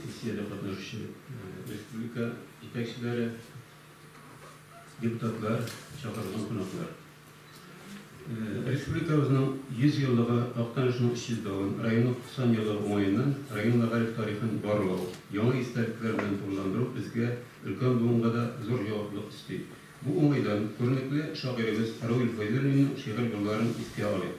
Сессиядә катнашучы республика җитәкчеләре, депутатлар, чакырылган кунаклар! Республикабызның 100 еллыгы Актанышның 300 давын, районның 90 елы уңаеннан район мәгариф тарихын барлау, яңа истәлекләр белән тулыландыру безгә, өлкән буынга да зур җаваплылык өсти. Бу уңайдан күренекле шагыйребез Равил Фәйзуллинның шигырь юлларын искә алыйк.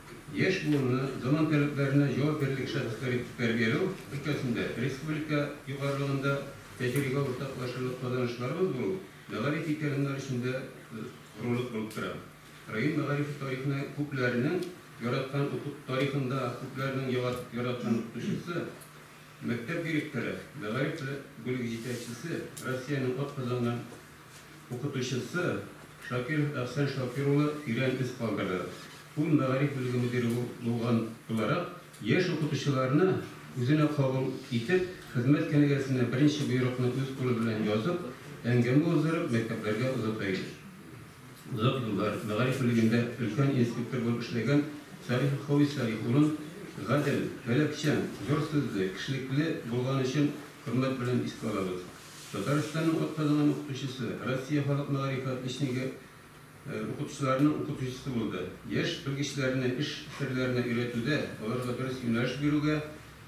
Яшь буынны заман таләпләренә җавап бирерлек шәхесләр итеп тәрбияләү өлкәсендә республика югарылыгында тәҗрибә уртаклашырлык казанышларыбыз булу мәгариф ветераннары өчен дә зур горурлык булып тора. Район мәгарифе тарихына күпләрнең яраткан укыту тарихында күпләрнең яраткан укытучысы, мәктәп директоры, мәгариф бүлеге җитәкчесе, Россиянең атказанган Укытучысы, Шакиров Әхсән Шакир улы тирән эз калдырды. Ул мәгариф бүлеге мөдире булган буларак, яшь укытучыларны үзенә кабул итеп, хезмәт кенәгәсенә беренче боерыкны үз кулы белән язып, әңгәмә уздырып, мәктәпләргә озата, имеш. Озак еллар мәгариф бүлегендә өлкән инспектор булып эшләгән Салихов Хәвис Салих улын гадел, таләпчән, зур сүзле, кешелекле булганы өчен хөрмәт белән искә алабыз. Татарстанның атказанган укытучысы, Россия халык мәгарифе отличнигы укытучыларының укытучысы булды. Яшь белгечләрне эш серләренә өйрәтүдә, аларга дөрес юнәлеш бирүгә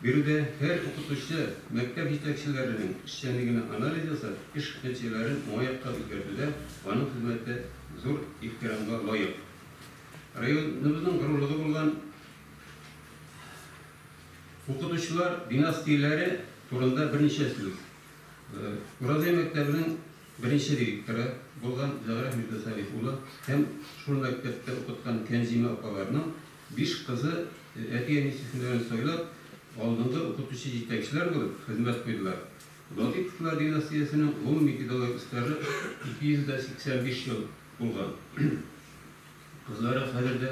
бирүдә һәр укытучы, мәктәп җитәкчеләренең эшчәнлегенә анализ ясап, эш нәтиҗәләрен уңай якка үзгәртүдә аның хезмәте зур ихтирамга лаек. Районыбызның горурлыгы булган. Укытучылар бина стильләре турында берничә сүз. Уразай мәктәбенең беренче директоры булган Зәгърә Мирдасалих улы һәм шул мәктәптә укыткан Кәнзимә апаларның биш кызы әти-әнисе һөнәрен сайлап, алдынгы укытучы-җитәкчеләр булып хезмәт куйдылар. Латыйповлар династиясенең гомуми педагогик стажы 285 ел булган. Кызлары хәзер дә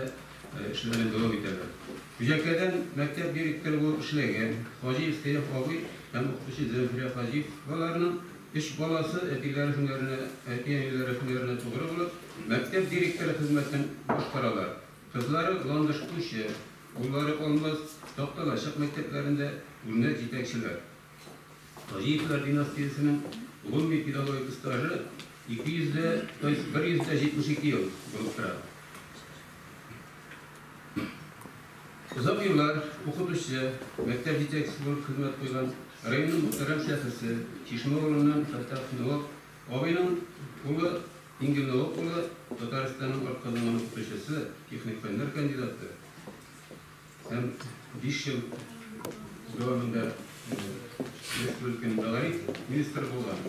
эшләрен дәвам итәләр. Күҗәккәдән мәктәп директоры булып эшләгән Хаҗиев Сәяф абый һәм укытучы Зәмфирә Хаҗиеваларның өч баласы әтиләре һөнәренә, әти-әниләре һөнәренә тугры булып, мәктәп директоры хезмәтен башкаралар. Кызлары Ландыш кучы, уллары Алмаз Такталачык мәктәпләрендә үрнәк җитәкчеләр. Таҗиевлар династиясенең гомуми педагогик стажы 200 дә, то есть 172 ел булып тора. Озак еллар укытучы, мәктәп җитәкчесе булып хезмәт куйган районның мөхтәрәм шәхесе, Чишмә авылыннан Фәттах Нуап абыйның улы Ингел Нуап улы Татарстанның атказанган укытучысы, техник фәннәр кандидаты, Һәм биш ел дәвамында республиканың дәваи министры булган.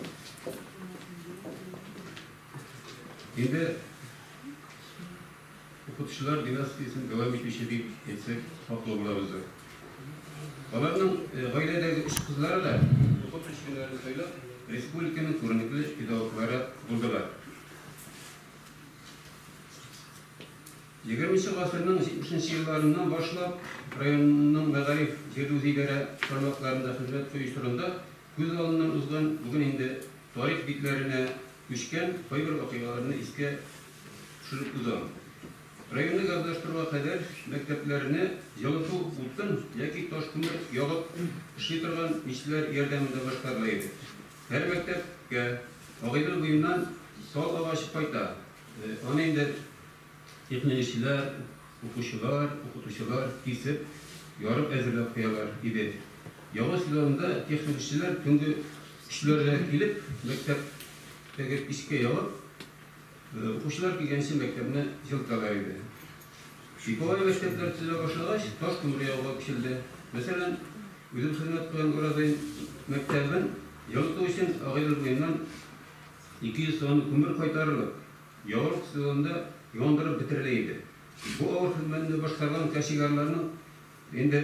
Инде укытучылар династиясен дәвам итүче дип әйтсәк, хаклы булабыздыр. Аларның гаиләдәге өч кызлары да укытучы юнәлешен сайлап, республиканың күренекле педагоглары булдылар. Егерменче гасырның җитмешенче елларыннан башлап районның мәгариф җирле-үзидарә тармакларында хезмәт кую чорында күз алдыннан узган, бүген инде тарих битләренә күчкән кайбер вакыйгаларны искә төшереп узам. Районны газлаштыруга кадәр мәктәпләрне җылыту утын яки таш күмер ягып эшли торган мичләр ярдәмендә башкарыла иде. Һәр мәктәпкә Агыйдел буеннан сал агачы кайта, аны инде Тикмилүчеләр, укучылар, укытучылар кисеп, ярып әзерләп куялар иде. Яңа сезонда техник эшчеләр төнге өчләрдә килеп, мәктәптәге пичкә ягып, укучылар килгәнче мәктәпне җылыталар иде. Типовой мәктәпләр төзелә башлагач, таш күмер ягуга күчелде. Мәсәлән, үзем хезмәт куйган Уразай мәктәбен җылыту өчен Агыйдел буеннан 200 тонна күмер кайтарылып, Ялгыш сезонында яндырып бетерелә иде. Бу авыр хезмәтне башкарган кашигарларның инде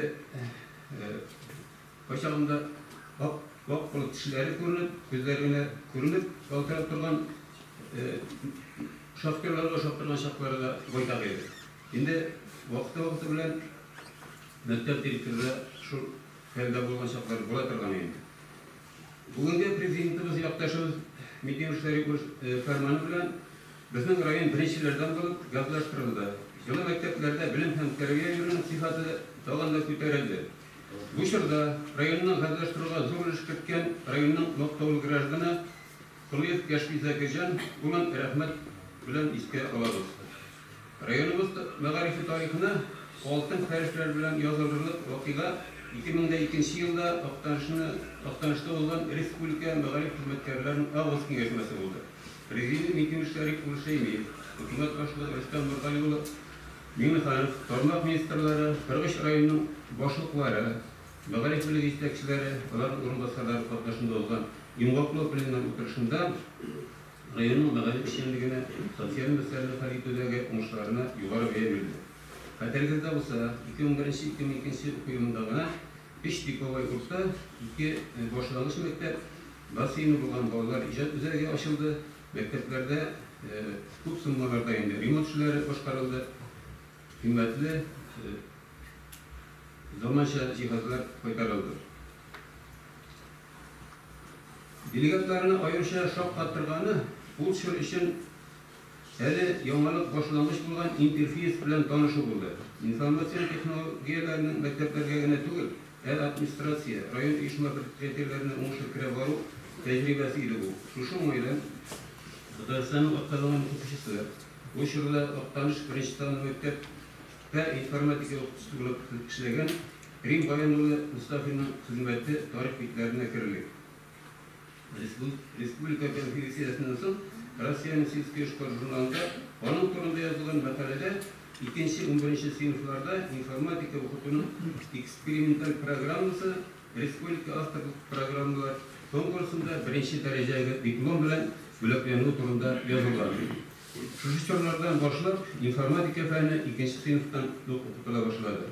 кайчагында ап-ак булып тешләре күренеп, күзләре генә күренеп ялтырап торган шахтерларга ошап торган чаклары да байтак иде. Инде вакыты-вакыты белән мәктәп директоры да шул хәлдә булган чаклары була торган инде. Бүгенге Президентыбыз якташыбыз Микимыш Шәрипов фәрманы белән безнең район беренчеләрдән булып газлаштырылды. Җылы мәктәпләрдә белем һәм тәрбия бирүнең сыйфаты тагын да күтәрелде. Бу чорда районны газлаштыруга зур өлеш керткән районның мактаулы гражданы Колыев Яшпизә Гыйҗан улын рәхмәт белән искә алабыз. Районыбыз мәгарифе тарихына алтын хәрефләр белән язылырлык вакыйга, 2002 елда Актанышта узган республика мәгариф хезмәткәрләренең август киңәшмәсе булды. Президиум итүчеләр Рифкуль Шәймиев, хөкүмәт башлыгы Рөстәм Нургали улы Миңнеханов, тармак министрлары, 43 районның башлыклары, мәгариф бүлеге җитәкчеләре, аларның урынбасарлары катнашында узган йомгаклау пленум утырышында Районның мәгариф эшчәнлегенә, социаль мәсьәләләр хәл итүдәге уңышларына югары бәя бирелә. Хәтерегездә булса, 2001-2002 уку елында гына өч типовой курста, ике башлангыч мәктәп, бассейны булган балалар иҗат үзәге ачылды, мәктәпләрдә күп суммаларда инде ремонт эшләре башкарылды, кыйммәтле заманча җиһазлар кайтарылды. Делегатларны аеруча шаккатырганы, ул чор өчен әле яңалык башлангыч булган интерфейс белән танышу булды. Информацион технологияләрнең мәктәпләргә генә түгел, ә администрация, район оешма-предприятиеләренә уңышлы керә бару тәҗрибәсе иде бу. Шушы уңайдан Татарстанның атказанган укытучысы, ул чорда Актаныш беренче санлы мәктәп тә информатика укытучысы булып эшләгән, Рим Гаян улы Мостафинның хезмәте тарих битләренә керерлек. Республика конференциясеннән соң Россиянең Сельский эшкуар журналында аның турында язылган мәкаләдә икенче, унберенче сыйныфларда информатика укытуның эксперименталь программасы республика авторлык программалар конкурсында беренче дәрәҗәгә диплом белән бүләкләнүе турында язылган. Шушы чорлардан башлап информатика фәне икенче сыйныфтан ук укытыла башлады.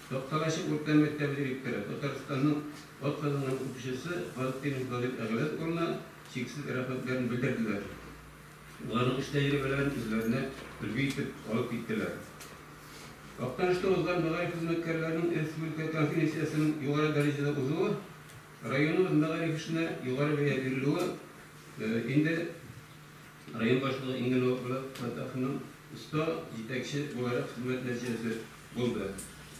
Такталачы урта мәктәбе директоры, Татарстанның атказанган укучысы Валкин Владимир Әгълән улына чиксез рәхмәтләрен белдерделәр. Аларның эш тәҗрибәләрен үзләренә өлге итеп алып киттеләр. Актанышта узган мәгариф хезмәткәрләренең республика конференциясенең югары дәрәҗәдә узуы, районыбыз мәгариф эшенә югары бәя бирелүе инде Район башлыгы иң эле Булат Фәттаховның оста җитәкче буларак хезмәт нәтиҗәсе булды.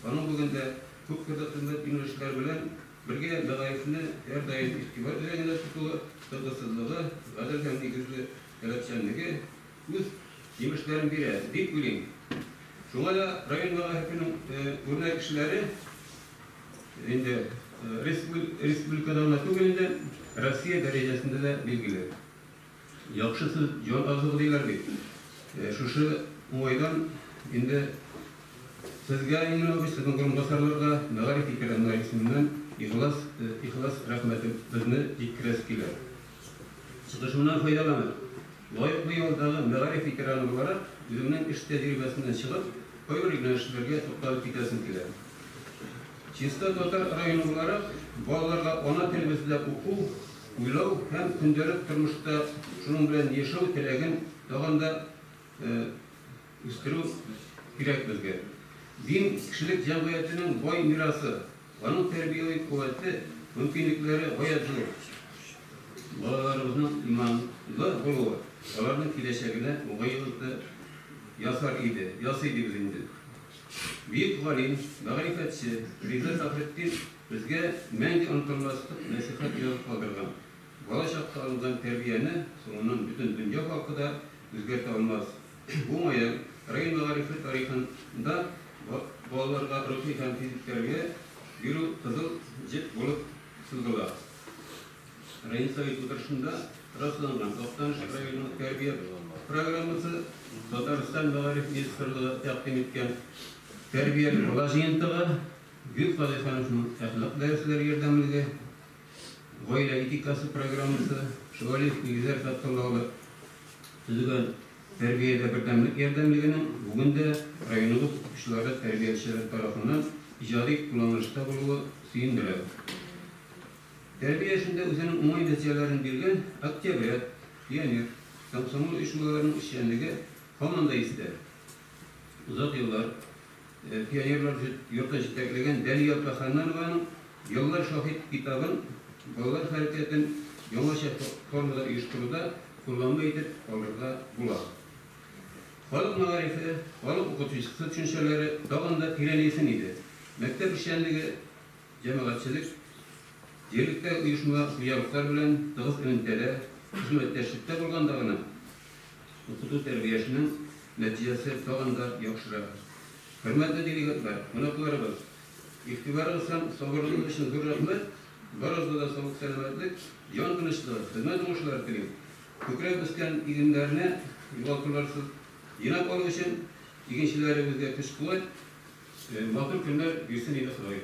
Аның бүген дә күпкырлы хезмәт юнәлешләре белән бергә мәгарифне һәрдаим игътибар үзәгендә тотуы, тынгысызлыгы, гадел һәм нигезле таләпчәнлеге үз җимешләрен бирә, дип уйлыйм. Шуңа да район мәгарифенең үрнәк кешеләре инде республикада гына түгел инде, Россия дәрәҗәсендә дә билгеле. Яхшы сүз җан азыгы диләр бит. Шушы уңайдан инде Сезгә, Ильнур абый, Сезнең урынбасарларга, мәгариф ветераннары исеменнән ихлас, ихлас рәхмәтебезне җиткерәсе килә. Чыгышымнан файдаланып, лаеклы ялдагы мәгариф ветераны буларак, үземнең эш тәҗрибәсеннән чыгып, кайбер юнәлешләргә тукталып китәсем килә. Чиста татар районы буларак, балаларга ана телебездә уку, Уйлау һәм көндәлек тормышта шуның белән яшәү теләген тагын да үстерү кирәк безгә. Дин, кешелек җәмгыятенең бай мирасы. Аның тәрбияви куәте, мөмкинлекләре гаять зур. Балаларыбызның иманлы булуы аларның киләчәгенә уңай йогынты ясар иде, ясый дибез инде. Бөек галим, мәгърифәтче Риза Фәхретдин Безгә мәңге онытылмас мәшәкать язып калдырган бала чакта алынган тәрбияне соңыннан бөтен дөнья халкы да үзгәртә алмас. Уңаен, район мәгарифе тарихында балаларга рухи һәм физик тәрбия бирү кызыл җеп булып сузыла. Район Совет утырышында расланган Актаныш районының тәрбия программасы, Татарстан мәгариф министрлыгы тәкъдим иткән тәрбияле бала җыентыгы, Гел Салихановның әхлак дәресләре ярдәмлеге, гаилә этикасы программасы, Шевалиев нигезләр садкындагылар төзегән Тәрбиядә бердәмлек ярдәмлегенең бүген дә районыбыз укытучылары, тәрбиячеләре тарафыннан иҗади кулланылышта булуы сөендерә. Тәрбия эшендә үзенең уңай нәтиҗәләрен биргән Октябрят, Пионер, комсомол оешмаларының эшчәнлеге һаман да истә. Озак еллар пионерлар йорты җитәкләгән Дәлия апа Ханнанованың Еллар шаһит китабын балалар хәрәкәтен яңача формада оештыруда кулланма итеп алырга була. Халык мәгарифе, халык укытучысы төшенчәләре тагын да тирәнәйсен иде. Мәктәп эшчәнлеге җәмәгатьчелек, җирлектәге оешма-хуҗалыклар белән тыгыз элемтәдә, хезмәттәшлектә булганда гына Укыту тәрбиясенең нәтиҗәсе тагын да яхшыра. Хөрмәтле делегатлар, кунакларыбыз! Игътибарыгыз һәм сабырлыгыгыз өчен зур рәхмәт! Барыгызга да саулык-сәламәтлек, җан тынычлыгы, хезмәт уңышлары телим! Күкрәп үскән игеннәрне югалтуларсыз җыйнап алу өчен игенчеләребезгә көч-куәт, матур көннәр бирсен иде Ходай!